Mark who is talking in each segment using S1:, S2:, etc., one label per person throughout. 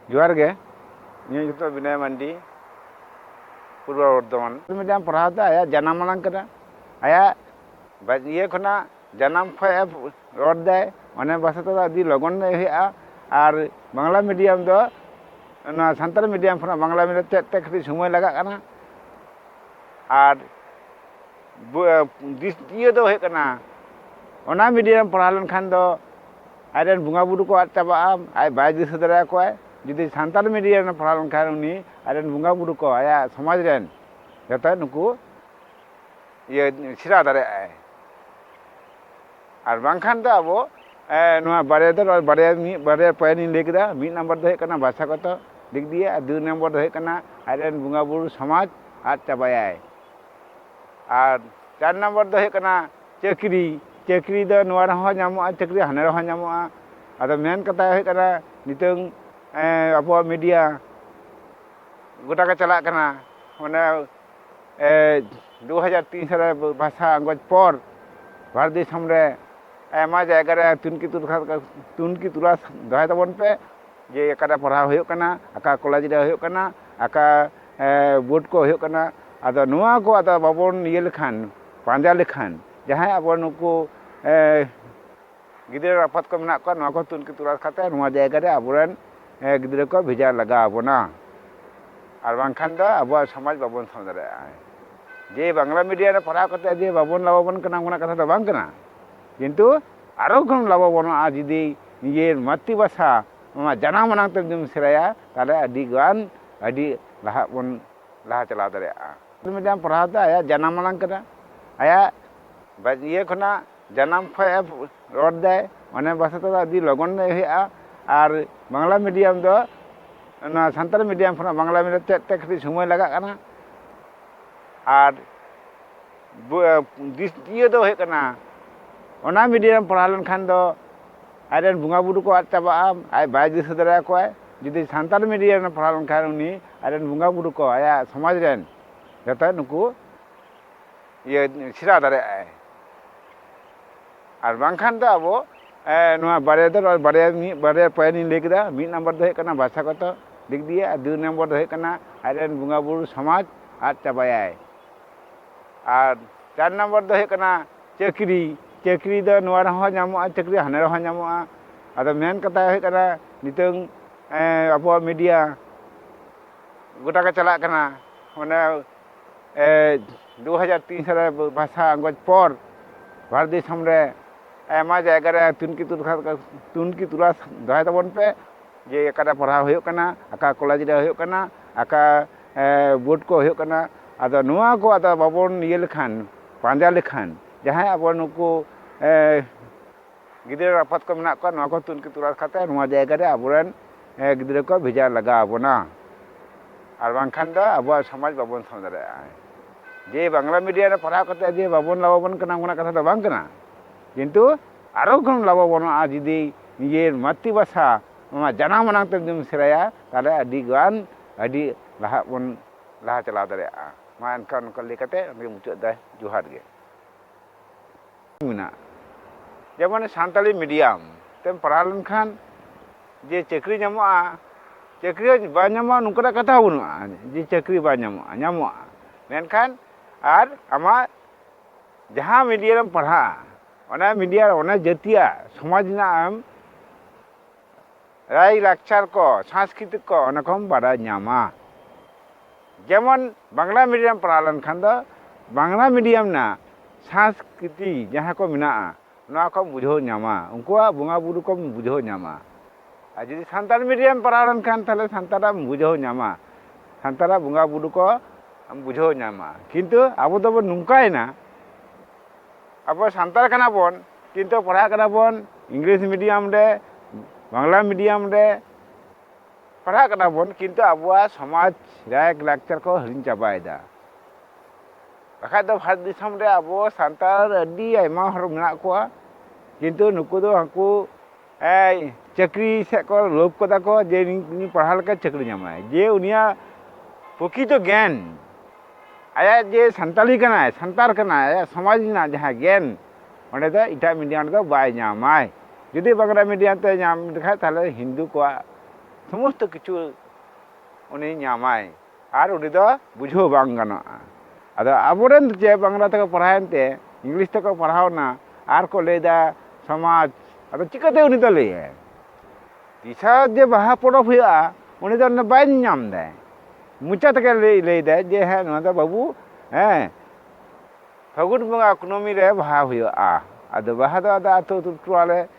S1: ᱡᱚᱦᱟᱨ ᱜᱮ ᱤᱧᱟᱹᱜ ᱧᱩᱛᱩᱢ ᱫᱚ ᱵᱤᱱᱚᱭ ᱢᱟᱱᱰᱤ ᱯᱩᱨᱵᱚ ᱵᱚᱨᱫᱷᱚᱢᱟᱱ ᱢᱤᱫᱴᱟᱝ ᱯᱟᱲᱦᱟᱣ ᱫᱚ ᱟᱭᱟᱜ ᱡᱟᱱᱟᱢ ᱟᱲᱟᱝ ᱠᱟᱱᱟ ᱟᱭᱟᱜ ᱤᱭᱟᱹ ᱠᱷᱚᱱᱟᱜ ᱡᱟᱱᱟᱢ ᱠᱷᱚᱱ ᱮ ᱨᱚᱲ ᱫᱟᱭ ᱚᱱᱟ ᱵᱷᱟᱥᱟ ᱛᱮᱫᱚ ᱟᱹᱰᱤ ᱞᱚᱜᱚᱱ ᱜᱮ ᱦᱩᱭᱩᱜᱼᱟ ᱟᱨ ᱵᱟᱝᱞᱟ ᱢᱤᱰᱤᱭᱟᱢ ᱫᱚ ᱚᱱᱟ ᱥᱟᱱᱛᱟᱲᱤ ᱢᱤᱰᱤᱭᱟᱢ ᱠᱷᱚᱱᱟᱜ ᱵᱟᱝᱞᱟ ᱢᱤᱰᱤᱭᱟᱢ ᱪᱮᱫ ᱛᱮ ᱠᱟᱹᱴᱤᱡ ᱥᱚᱢᱚᱭ ᱞᱟᱜᱟᱜ ᱠᱟᱱᱟ ᱟᱨ ᱫᱤᱥ ᱤᱭᱟᱹ ᱫᱚ ᱦᱩᱭᱩᱜ ᱠᱟᱱᱟ ᱚᱱᱟ ᱢᱤᱰᱤᱭᱟᱢ ᱯᱟᱲᱦᱟᱣ ᱞᱮᱱᱠᱷᱟᱱ ᱫᱚ ᱟᱡ ᱨᱮᱱ ᱵᱚᱸᱜᱟ ᱵᱩᱨᱩ ᱠᱚ ᱟᱫ ᱪᱟᱵᱟᱜᱼᱟ ᱟᱡ ᱵᱟᱭ ᱫᱤᱥᱟᱹ ᱫᱟᱲᱮ ᱟᱠᱚᱣᱟᱭ ᱡᱩᱫᱤ ᱥᱟᱱᱛᱟᱲᱤ ᱢᱤᱰᱤᱭᱟᱢ ᱨᱮ ᱯᱟᱲᱦᱟᱣ ᱞᱮᱱᱠᱷᱟᱱ ᱩᱱᱤ ᱟᱡ ᱨᱮᱱ ᱵᱚᱸᱜᱟ ᱵᱩᱨᱩ ᱠᱚ ᱟᱭᱟᱜ ᱥᱚᱢᱟᱡᱽ ᱨᱮᱱ ᱡᱚᱛᱚ ᱱᱩᱠᱩ ᱤᱭᱟᱹ ᱥᱮᱬᱟ ᱫᱟᱲᱮᱭᱟᱜᱼᱟᱭ ᱟᱨ ᱵᱟᱝᱠᱷᱟᱱ ᱫᱚ ᱟᱵᱚ ᱱᱚᱣᱟ ᱵᱟᱨᱭᱟ ᱫᱚ ᱵᱟᱨᱭᱟ ᱢᱤᱫ ᱵᱟᱨᱭᱟ ᱯᱚᱭᱮᱱᱴ ᱤᱧ ᱞᱟᱹᱭ ᱠᱮᱫᱟ ᱢᱤᱫ ᱱᱟᱢᱵᱟᱨ ᱫᱚ ᱦᱩᱭᱩᱜ ᱠᱟᱱᱟ ᱵᱷᱟᱥᱟᱜᱚᱛᱚ ᱫᱤᱠ ᱫᱤᱭᱮ ᱟᱨ ᱫᱩᱭ ᱱᱟᱢᱵᱟᱨ ᱫᱚ ᱦᱩᱭᱩᱜ ᱠᱟᱱᱟ ᱟᱡ ᱨᱮᱱ ᱵᱚᱸᱜᱟ ᱵᱩᱨᱩ ᱥᱚᱢᱟᱡᱽ ᱟᱫ ᱪᱟᱵᱟᱭᱟᱭ ᱟᱨ ᱪᱟᱨ ᱱᱟᱢᱵᱟᱨ ᱫᱚ ᱦᱩᱭᱩᱜ ᱠᱟᱱᱟ ᱪᱟᱹᱠᱨᱤ ᱪᱟᱹᱠᱨᱤ ᱫᱚ ᱱᱚᱣᱟ ᱨᱮᱦᱚᱸ ᱧᱟᱢᱚᱜᱼᱟ ᱪᱟᱹᱠᱨᱤ ᱦᱟᱱᱮ ᱨᱮᱦᱚᱸ ᱧᱟᱢᱚᱜᱼᱟ ᱟᱫᱚ ᱢᱮᱱ ᱠᱟᱛᱷᱟ ᱦᱩᱭᱩᱜ ᱠᱟᱱᱟ ᱱᱤᱛᱚᱝ ᱟᱵᱚᱣᱟᱜ ᱢᱤᱰᱤᱭᱟ ᱜᱚᱴᱟ ᱜᱮ ᱪᱟᱞᱟᱜ ᱠᱟᱱᱟ ᱚᱱᱮ ᱫᱩ ᱦᱟᱡᱟᱨ ᱛᱤᱱ ᱥᱟᱞᱮ ᱵᱷᱟᱥᱟ ᱟᱸᱜᱚᱪ ᱯᱚᱨ ᱵᱷᱟᱨᱚᱛ ᱫᱤᱥᱚᱢ ᱨᱮ ᱟᱭᱢᱟ ᱡᱟᱭᱜᱟ ᱨᱮ ᱛᱩᱱᱠᱷᱤ ᱛᱩᱱᱠᱷᱤ ᱛᱚᱞᱟᱥ ᱫᱚᱦᱚᱭ ᱛᱟᱵᱚᱱ ᱯᱮ ᱡᱮ ᱚᱠᱟᱨᱮ ᱯᱟᱲᱦᱟᱣ ᱦᱩᱭᱩᱜ ᱠᱟᱱᱟ ᱚᱠᱟ ᱠᱚᱞᱮᱡᱽ ᱨᱮ ᱦᱩᱭᱩᱜ ᱠᱟᱱᱟ ᱚᱠᱟ ᱵᱳᱴ ᱠᱚ ᱦᱩᱭᱩᱜ ᱠᱟᱱᱟ ᱟᱫᱚ ᱱᱚᱣᱟ ᱠᱚ ᱟᱫᱚ ᱵᱟᱵᱚᱱ ᱤᱭᱟᱹ ᱞᱮᱠᱷᱟᱱ ᱯᱟᱸᱡᱟ ᱞᱮᱠᱷᱟᱱ ᱡᱟᱦᱟᱸᱭ ᱟᱵᱚ ᱱᱩᱠᱩ ᱜᱤᱫᱽᱨᱟᱹ ᱟᱯᱟᱛ ᱠᱚ ᱢᱮᱱᱟᱜ ᱠᱚᱣᱟ ᱱᱚᱣᱟ ᱠᱚ ᱛᱩᱱᱠᱷᱤ ᱛᱚᱞᱟᱥ ᱠᱟᱛᱮ ᱱᱚᱣᱟ ᱡᱟᱭᱜᱟ ᱨᱮ ᱟᱵᱚ ᱨᱮᱱ ᱜᱤᱫᱽᱨᱟᱹ ᱠᱚ ᱵᱷᱮᱡᱟ ᱞᱟᱜᱟᱣ ᱵᱚᱱᱟ ᱟᱨ ᱵᱟᱝᱠᱷᱟᱱ ᱫᱚ ᱟᱵᱚᱣᱟᱜ ᱥᱚᱢᱟᱡᱽ ᱵᱟᱵᱚᱱ ᱥᱟᱵ ᱫᱟᱲᱮᱭᱟᱜᱼᱟ ᱡᱮ ᱵᱟᱝᱞᱟ ᱢᱤᱰᱤᱭᱟ ᱨᱮ ᱯᱟᱲᱦᱟᱣ ᱠᱟᱛᱮ ᱡᱮ ᱵᱟᱵᱚᱱ ᱞᱟᱵᱷᱚᱵᱟᱱ ᱠᱟᱱᱟ ᱚᱱᱠᱟᱱᱟᱜ ᱠᱟᱛᱷᱟ ᱫᱚ ᱵᱟᱝ ᱠᱟᱱᱟ ᱠᱤᱱᱛᱩ ᱟᱨᱚ ᱵᱚᱱ ᱞᱟᱵᱷᱚᱵᱟᱱᱚᱜᱼᱟ ᱡᱩᱫᱤ ᱱᱤᱡᱮᱨ ᱢᱟᱛᱨᱤ ᱵᱷᱟᱥᱟ ᱱᱚᱣᱟ ᱡᱟᱱᱟᱢ ᱟᱲᱟᱝ ᱛᱮ ᱡᱩᱫᱤᱢ ᱥᱮᱬᱟᱭᱟ ᱛᱟᱦᱚᱞᱮ ᱟᱹᱰᱤ ᱜᱟᱱ ᱟᱹᱰᱤ ᱞᱟᱦᱟᱜ ᱵᱚᱱ ᱞᱟᱦᱟ ᱪᱟᱞᱟᱣ ᱫᱟᱲᱮᱭᱟᱜᱼᱟ ᱢᱤᱰᱤᱭᱟᱢ ᱯᱟᱲᱦᱟᱣ ᱫᱚ ᱟᱭᱟᱜ ᱡᱟᱱᱟᱢ ᱟᱲᱟᱝ ᱠᱟᱱᱟ ᱟᱭᱟᱜ ᱤᱭᱟᱹ ᱠᱷᱚᱱᱟᱜ ᱡᱟᱱᱟᱢ ᱠᱷᱚᱱ ᱮ ᱨᱚᱲ ᱫᱟᱭ ᱚᱱᱟ ᱵᱷᱟᱥᱟ ᱛᱮᱫᱚ ᱟᱹᱰᱤ ᱞᱚᱜᱚᱱ ᱜᱮ ᱦᱩᱭᱩᱜᱼᱟ ᱟᱨ ᱵᱟᱝᱞᱟ ᱢᱤᱰᱤᱭᱟᱢ ᱫᱚ ᱚᱱᱟ ᱥᱟᱱᱛᱟᱲᱤ ᱢᱤᱰᱤᱭᱟᱢ ᱠᱷᱚᱱᱟᱜ ᱵᱟᱝᱞᱟ ᱢᱤᱰᱤᱭᱟᱢ ᱪᱮᱫ ᱛᱮ ᱠᱟᱹᱴᱤᱡ ᱥᱚᱢᱚᱭ ᱞᱟᱜᱟᱜ ᱠᱟᱱᱟ ᱟᱨ ᱤᱭᱟᱹ ᱫᱚ ᱦᱩᱭᱩᱜ ᱠᱟᱱᱟ ᱚᱱᱟ ᱢᱤᱰᱤᱭᱟᱢ ᱯᱟᱲᱦᱟᱣ ᱞᱮᱱᱠᱷᱟᱱ ᱫᱚ ᱟᱡ ᱨᱮᱱ ᱵᱚᱸᱜᱟ ᱵᱳᱨᱳ ᱠᱚ ᱟᱫ ᱪᱟᱵᱟᱜᱼᱟ ᱟᱡ ᱵᱟᱭ ᱫᱤᱥᱟᱹ ᱫᱟᱲᱮ ᱟᱠᱚᱣᱟ ᱡᱩᱫᱤ ᱥᱟᱱᱛᱟᱲᱤ ᱢᱤᱰᱤᱭᱟᱢ ᱨᱮ ᱯᱟᱲᱦᱟᱣ ᱞᱮᱱᱠᱷᱟᱱ ᱩᱱᱤ ᱟᱡ ᱨᱮᱱ ᱵᱚᱸᱜᱟ ᱵᱳᱨᱳ ᱠᱚ ᱟᱭᱟᱜ ᱥᱚᱢᱟᱡᱽ ᱨᱮᱱ ᱡᱚᱛᱚ ᱱᱩᱠᱩ ᱤᱭᱟᱹ ᱥᱮᱬᱟ ᱫᱟᱲᱮᱭᱟᱜ ᱟᱭ ᱟᱨ ᱵᱟᱝᱠᱷᱟᱱ ᱫᱚ ᱟᱵᱚ ᱱᱚᱣᱟ ᱵᱟᱨᱭᱟ ᱫᱚ ᱵᱟᱨᱭᱟ ᱢᱤᱫ ᱵᱟᱨᱭᱟ ᱯᱚᱭᱮᱱᱴᱤᱧ ᱞᱟᱹᱭ ᱠᱮᱫᱟ ᱢᱤᱫ ᱱᱟᱢᱵᱟᱨ ᱫᱚ ᱦᱩᱭᱩᱜ ᱠᱟᱱᱟ ᱵᱷᱟᱥᱟ ᱜᱚᱛᱚ ᱫᱤᱠ ᱫᱤᱭᱮ ᱟᱨ ᱫᱩᱭ ᱱᱚᱢᱵᱚᱨ ᱫᱚ ᱦᱩᱭᱩᱜ ᱠᱟᱱᱟ ᱟᱡ ᱨᱮᱱ ᱵᱚᱸᱜᱟ ᱵᱳᱨᱳ ᱥᱚᱢᱟᱡᱽ ᱟᱫ ᱪᱟᱵᱟᱭᱟᱭ ᱟᱨ ᱪᱟᱨ ᱱᱚᱢᱵᱚᱨ ᱫᱚ ᱦᱩᱭᱩᱜ ᱠᱟᱱᱟ ᱪᱟᱹᱠᱨᱤ ᱪᱟᱹᱠᱨᱤ ᱫᱚ ᱱᱚᱣᱟ ᱨᱮᱦᱚᱸ ᱧᱟᱢᱚᱜᱼᱟ ᱪᱟᱹᱠᱨᱤ ᱦᱟᱱᱮ ᱨᱮᱦᱚᱸ ᱧᱟᱢᱚᱜᱼᱟ ᱟᱫᱚ ᱢᱮᱱ ᱠᱟᱛᱷᱟ ᱦᱩᱭᱩᱜ ᱠᱟᱱᱟ ᱱᱤᱛᱚᱝ ᱟᱵᱚᱣᱟᱜ ᱢᱤᱰᱤᱭᱟ ᱜᱚᱴᱟ ᱜᱮ ᱪᱟᱞᱟᱜ ᱠᱟᱱᱟ ᱚᱱᱮ ᱫᱩ ᱦᱟᱡᱟᱨ ᱛᱤᱱ ᱥᱟᱞᱨᱮ ᱵᱷᱟᱥᱟ ᱟᱸᱜᱚᱪ ᱯᱚᱨ ᱵᱷᱟᱨᱚᱛ ᱫᱤᱥᱚᱢ ᱨᱮ ᱟᱭᱢᱟ ᱡᱟᱭᱜᱟ ᱨᱮ ᱛᱩᱱᱠᱷᱤ ᱛᱩᱱᱠᱷᱤ ᱛᱚᱞᱟᱥ ᱫᱚᱦᱚᱭ ᱛᱟᱵᱚᱱ ᱯᱮ ᱡᱮ ᱚᱠᱟᱨᱮ ᱯᱟᱲᱦᱟᱣ ᱦᱩᱭᱩᱜ ᱠᱟᱱᱟ ᱚᱠᱟ ᱠᱚᱞᱮᱡᱽ ᱨᱮ ᱦᱩᱭᱩᱜ ᱠᱟᱱᱟ ᱚᱠᱟ ᱵᱳᱴ ᱠᱚ ᱦᱩᱭᱩᱜ ᱠᱟᱱᱟ ᱟᱫᱚ ᱱᱚᱣᱟ ᱠᱚ ᱟᱫᱚ ᱵᱟᱵᱚᱱ ᱤᱭᱟᱹ ᱞᱮᱠᱷᱟᱱ ᱯᱟᱸᱡᱟ ᱞᱮᱠᱷᱟᱱ ᱡᱟᱦᱟᱸᱭ ᱟᱵᱚ ᱱᱩᱠᱩ ᱜᱤᱫᱽᱨᱟᱹ ᱟᱯᱟᱛ ᱠᱚ ᱢᱮᱱᱟᱜ ᱠᱚᱣᱟ ᱱᱚᱣᱟ ᱠᱚ ᱛᱩᱱᱠᱷᱤ ᱛᱚᱞᱟᱥ ᱠᱟᱛᱮ ᱱᱚᱣᱟ ᱡᱟᱭᱜᱟ ᱨᱮ ᱟᱵᱚ ᱨᱮᱱ ᱜᱤᱫᱽᱨᱟᱹ ᱠᱚ ᱵᱷᱮᱡᱟ ᱞᱟᱜᱟᱣ ᱵᱚᱱᱟ ᱟᱨ ᱵᱟᱝᱠᱷᱟᱱ ᱫᱚ ᱟᱵᱚᱣᱟᱜ ᱥᱚᱢᱟᱡᱽ ᱵᱟᱵᱚᱱ ᱥᱟᱶ ᱫᱟᱲᱮᱭᱟᱜᱼᱟ ᱡᱮ ᱵᱟᱝᱞᱟ ᱢᱤᱰᱤᱭᱟ ᱨᱮ ᱯᱟᱲᱦᱟᱣ ᱠᱟᱛᱮ ᱡᱮ ᱵᱟᱵᱚᱱ ᱞᱟᱵᱷᱚᱵᱟᱱ ᱠᱟᱱᱟ ᱚᱱᱟ ᱠᱟᱛᱷᱟ ᱫᱚ ᱵᱟᱝ ᱠᱟᱱᱟ ᱠᱤᱱᱛᱩ ᱟᱨᱚ ᱵᱚᱱ ᱞᱟᱵᱷᱚᱵᱟᱱᱚᱜᱼᱟ ᱡᱩᱫᱤ ᱱᱤᱡᱮᱨ ᱢᱟᱛᱨᱤ ᱵᱷᱟᱥᱟ ᱱᱚᱣᱟ ᱡᱟᱱᱟᱢ ᱟᱲᱟᱝ ᱛᱮ ᱡᱩᱫᱤᱢ ᱥᱮᱬᱟᱭᱟ ᱛᱟᱦᱚᱞᱮ ᱟᱹᱰᱤᱜᱟᱱ ᱟᱹᱰᱤ ᱞᱟᱦᱟᱜ ᱵᱚᱱ ᱞᱟᱦᱟ ᱪᱟᱞᱟᱣ ᱫᱟᱲᱮᱭᱟᱜᱼᱟ ᱢᱟ ᱮᱱᱠᱷᱟᱱ ᱱᱚᱝᱠᱟ ᱞᱟᱹᱭ ᱠᱟᱛᱮ ᱱᱚᱰᱮ ᱢᱩᱪᱟᱹᱫ ᱫᱟᱭ ᱡᱚᱦᱟᱨ ᱜᱮ ᱢᱮᱱᱟᱜᱼᱟ ᱡᱮᱢᱚᱱ ᱥᱟᱱᱛᱟᱲᱤ ᱢᱤᱰᱤᱭᱟᱢ ᱛᱮᱢ ᱯᱟᱲᱦᱟᱣ ᱞᱮᱱᱠᱷᱟᱱ ᱡᱮ ᱪᱟᱹᱠᱨᱤ ᱧᱟᱢᱚᱜᱼᱟ ᱪᱟᱹᱠᱨᱤ ᱦᱚᱸ ᱵᱟᱝ ᱧᱟᱢᱚᱜᱼᱟ ᱱᱚᱝᱠᱟᱱᱟᱜ ᱠᱟᱛᱷᱟ ᱦᱚᱸ ᱵᱟᱹᱱᱩᱜᱼᱟ ᱡᱮ ᱪᱟᱹᱠᱨᱤ ᱵᱟᱝ ᱧᱟᱢᱚᱜᱼᱟ ᱧᱟᱢᱚᱜᱼᱟ ᱢᱮᱱᱠᱷᱟᱱ ᱟᱨ ᱟᱢᱟᱜ ᱡᱟᱦᱟᱸ ᱢᱤᱰᱤᱭᱟ ᱨᱮᱢ ᱯᱟᱲᱦᱟᱜᱼᱟ ᱚᱱᱟ ᱢᱤᱰᱤᱭᱟ ᱚᱱᱟ ᱡᱟᱹᱛᱤᱭᱟᱜ ᱥᱚᱢᱟᱡᱽ ᱨᱮᱱᱟᱜ ᱮᱢ ᱨᱟᱭ ᱞᱟᱠᱪᱟᱨ ᱠᱚ ᱥᱟᱝᱥᱠᱨᱤᱛᱤᱠ ᱠᱚ ᱚᱱᱟ ᱠᱚᱢ ᱵᱟᱰᱟᱭ ᱧᱟᱢᱟ ᱡᱮᱢᱚᱱ ᱵᱟᱝᱞᱟ ᱢᱤᱰᱤᱭᱟᱢ ᱯᱟᱲᱦᱟᱣ ᱞᱮᱱᱠᱷᱟᱱ ᱫᱚ ᱵᱟᱝᱞᱟ ᱢᱤᱰᱤᱭᱟᱢ ᱨᱮᱱᱟᱜ ᱥᱟᱝᱥᱠᱨᱤᱛᱤ ᱡᱟᱦᱟᱸ ᱠᱚ ᱢᱮᱱᱟᱜᱼᱟ ᱱᱚᱣᱟ ᱠᱚᱢ ᱵᱩᱡᱷᱟᱹᱣ ᱧᱟᱢᱟ ᱩᱱᱠᱩᱣᱟᱜ ᱵᱚᱸᱜᱟ ᱵᱩᱨᱩ ᱠᱚᱢ ᱵᱩᱡᱷᱟᱹᱣ ᱧᱟᱢᱟ ᱟᱨ ᱡᱩᱫᱤ ᱥᱟᱱᱛᱟᱲ ᱢᱤᱰᱤᱭᱟᱢ ᱯᱟᱲᱦᱟᱣ ᱞᱮᱱᱠᱷᱟᱱ ᱛᱟᱦᱞᱮ ᱥᱟᱱᱛᱟᱲᱟᱜ ᱮᱢ ᱵᱩᱡᱷᱟᱹᱣ ᱧᱟᱢᱟ ᱥᱟᱱᱛᱟᱲᱟᱜ ᱵᱚᱸᱜᱟ ᱵᱩᱨᱩ ᱠᱚ ᱮᱢ ᱵᱩᱡᱷᱟᱹᱣ ᱧᱟᱢᱟ ᱠᱤᱱᱛᱩ ᱟᱵᱚ ᱫᱚᱵᱚᱱ ᱱᱚᱝᱠᱟᱭᱮᱱᱟ ᱟᱵᱚ ᱥᱟᱱᱛᱟᱲ ᱠᱟᱱᱟ ᱵᱚᱱ ᱠᱤᱱᱛᱩ ᱯᱟᱲᱦᱟᱜ ᱠᱟᱱᱟ ᱵᱚᱱ ᱤᱝᱞᱤᱥ ᱢᱤᱰᱤᱭᱟᱢ ᱨᱮ ᱵᱟᱝᱞᱟ ᱢᱤᱰᱤᱭᱟᱢ ᱨᱮ ᱯᱟᱲᱦᱟᱜ ᱠᱟᱱᱟ ᱵᱚᱱ ᱠᱤᱱᱛᱩ ᱟᱵᱚᱣᱟᱜ ᱥᱚᱢᱟᱡᱽ ᱨᱟᱭᱟᱜ ᱞᱟᱠᱪᱟᱨ ᱠᱚ ᱦᱤᱲᱤᱧ ᱪᱟᱵᱟᱭᱮᱫᱟ ᱵᱟᱠᱷᱟᱡ ᱫᱚ ᱵᱷᱟᱨᱚᱛ ᱫᱤᱥᱚᱢ ᱨᱮ ᱟᱵᱚ ᱥᱟᱱᱛᱟᱲ ᱟᱹᱰᱤ ᱟᱭᱢᱟ ᱦᱚᱲ ᱢᱮᱱᱟᱜ ᱠᱚᱣᱟ ᱠᱤᱱᱛᱩ ᱱᱩᱠᱩ ᱫᱚ ᱦᱟᱹᱱᱠᱩ ᱪᱟᱹᱠᱨᱤ ᱥᱮᱫ ᱠᱚ ᱞᱳᱵᱷ ᱠᱟᱫᱟ ᱠᱚ ᱡᱮ ᱩᱱᱤ ᱯᱟᱲᱦᱟᱣ ᱞᱮᱠᱷᱟᱱ ᱪᱟᱹᱠᱨᱤ ᱧᱟᱢᱟᱭ ᱡᱮ ᱩᱱᱤᱭᱟᱜ ᱯᱨᱚᱠᱤᱛᱚ ᱜᱮᱭᱟᱱ ᱟᱭᱟᱜ ᱡᱮ ᱥᱟᱱᱛᱟᱲᱤ ᱠᱟᱱᱟᱭ ᱥᱟᱱᱛᱟᱲ ᱠᱟᱱᱟᱭ ᱟᱭᱟᱜ ᱥᱚᱢᱟᱡᱽ ᱨᱮᱱᱟᱜ ᱡᱟᱦᱟᱸ ᱜᱮᱭᱟᱱ ᱚᱸᱰᱮ ᱫᱚ ᱮᱴᱟᱜ ᱢᱤᱰᱤᱭᱟᱢ ᱨᱮᱫᱚ ᱵᱟᱭ ᱧᱟᱢᱟᱭ ᱡᱩᱫᱤ ᱵᱟᱝᱞᱟ ᱢᱤᱰᱤᱭᱟᱢ ᱛᱮ ᱧᱟᱢ ᱞᱮᱠᱷᱟᱱ ᱛᱟᱦᱚᱞᱮ ᱦᱤᱱᱫᱩ ᱠᱚᱣᱟᱜ ᱥᱚᱢᱚᱥᱛᱚ ᱠᱤᱪᱷᱩ ᱩᱱᱤ ᱧᱟᱢᱟᱭ ᱟᱨ ᱩᱱᱤ ᱫᱚ ᱵᱩᱡᱷᱟᱹᱣ ᱵᱟᱝ ᱜᱟᱱᱚᱜᱼᱟ ᱟᱫᱚ ᱟᱵᱚ ᱨᱮᱱ ᱡᱮ ᱵᱟᱝᱞᱟ ᱛᱮᱠᱚ ᱯᱟᱲᱦᱟᱣᱮᱱ ᱛᱮ ᱤᱝᱞᱤᱥ ᱛᱮᱠᱚ ᱯᱟᱲᱦᱟᱣᱱᱟ ᱟᱨ ᱠᱚ ᱞᱟᱹᱭᱫᱟ ᱥᱚᱢᱟᱡᱽ ᱟᱫᱚ ᱪᱤᱠᱟᱹᱛᱮ ᱩᱱᱤ ᱫᱚ ᱞᱟᱹᱭᱟᱭ ᱛᱤᱥᱟ ᱡᱮ ᱵᱟᱦᱟ ᱯᱚᱨᱚᱵᱽ ᱦᱩᱭᱩᱜᱼᱟ ᱩᱱᱤ ᱫᱚ ᱚᱱᱟ ᱵᱟᱭ ᱧᱟᱢ ᱫᱟᱭ ᱢᱚᱪᱟ ᱛᱮᱜᱮ ᱞᱟᱹᱭ ᱞᱟᱹᱭᱫᱟᱭ ᱡᱮ ᱦᱮᱸ ᱱᱚᱣᱟ ᱫᱚ ᱵᱟᱹᱵᱩ ᱦᱮᱸ ᱯᱷᱟᱹᱜᱩᱱ ᱵᱚᱸᱜᱟ ᱠᱩᱱᱟᱹᱢᱤ ᱨᱮ ᱵᱟᱦᱟ ᱦᱩᱭᱩᱜᱼᱟ ᱟᱫᱚ ᱵᱟᱦᱟ ᱫᱚ ᱟᱫᱚ ᱟᱹᱛᱩ ᱟᱹᱛᱩ ᱴᱚᱞᱟ ᱨᱮ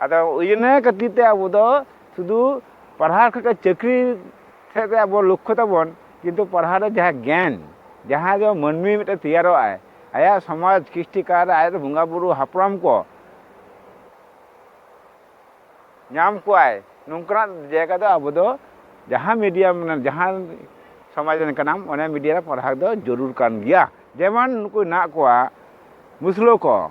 S1: ᱟᱫᱚ ᱤᱱᱟᱹ ᱠᱷᱟᱹᱛᱤᱨ ᱛᱮ ᱟᱵᱚ ᱫᱚ ᱥᱩᱫᱷᱩ ᱯᱟᱲᱦᱟᱣ ᱠᱷᱚᱡ ᱪᱟᱹᱠᱨᱤ ᱥᱮᱫ ᱨᱮ ᱟᱵᱚ ᱞᱚᱠᱠᱷᱚ ᱛᱟᱵᱚᱱ ᱠᱤᱱᱛᱩ ᱯᱟᱲᱦᱟᱣ ᱨᱮ ᱡᱟᱦᱟᱸ ᱜᱮᱭᱟᱱ ᱡᱟᱦᱟᱸ ᱫᱚ ᱢᱟᱹᱱᱢᱤ ᱢᱤᱫᱴᱮᱱ ᱛᱮᱭᱟᱨᱚᱜ ᱟᱭ ᱟᱭᱟᱜ ᱥᱚᱢᱟᱡᱽ ᱠᱨᱤᱥᱴᱤ ᱠᱟᱨ ᱟᱡ ᱵᱚᱸᱜᱟ ᱵᱩᱨᱩ ᱦᱟᱯᱲᱟᱢ ᱠᱚ ᱧᱟᱢ ᱠᱚᱣᱟᱭ ᱱᱚᱝᱠᱟᱱᱟᱜ ᱡᱟᱭᱜᱟ ᱫᱚ ᱟᱵᱚ ᱫᱚ ᱡᱟᱦᱟᱸ ᱢᱤᱰᱤᱭᱟᱢ ᱡᱟᱦᱟᱸ ᱥᱚᱢᱟᱡᱽ ᱨᱮᱱ ᱠᱟᱱᱟᱢ ᱚᱱᱟ ᱢᱤᱰᱤᱭᱟ ᱨᱮ ᱯᱟᱲᱦᱟᱣ ᱫᱚ ᱡᱟᱹᱨᱩᱲ ᱠᱟᱱ ᱜᱮᱭᱟ ᱡᱮᱢᱚᱱ ᱱᱩᱠᱩ ᱦᱮᱱᱟᱜ ᱠᱚᱣᱟ ᱢᱩᱥᱞᱟᱹ ᱠᱚ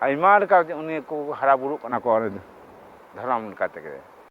S1: ᱟᱭᱢᱟ ᱞᱮᱠᱟ ᱩᱱᱤ ᱠᱚ ᱦᱟᱨᱟ ᱵᱩᱨᱩᱜ ᱠᱟᱱᱟ ᱠᱚ ᱫᱷᱚᱨᱚᱢ ᱞᱮᱠᱟ ᱛᱮᱜᱮ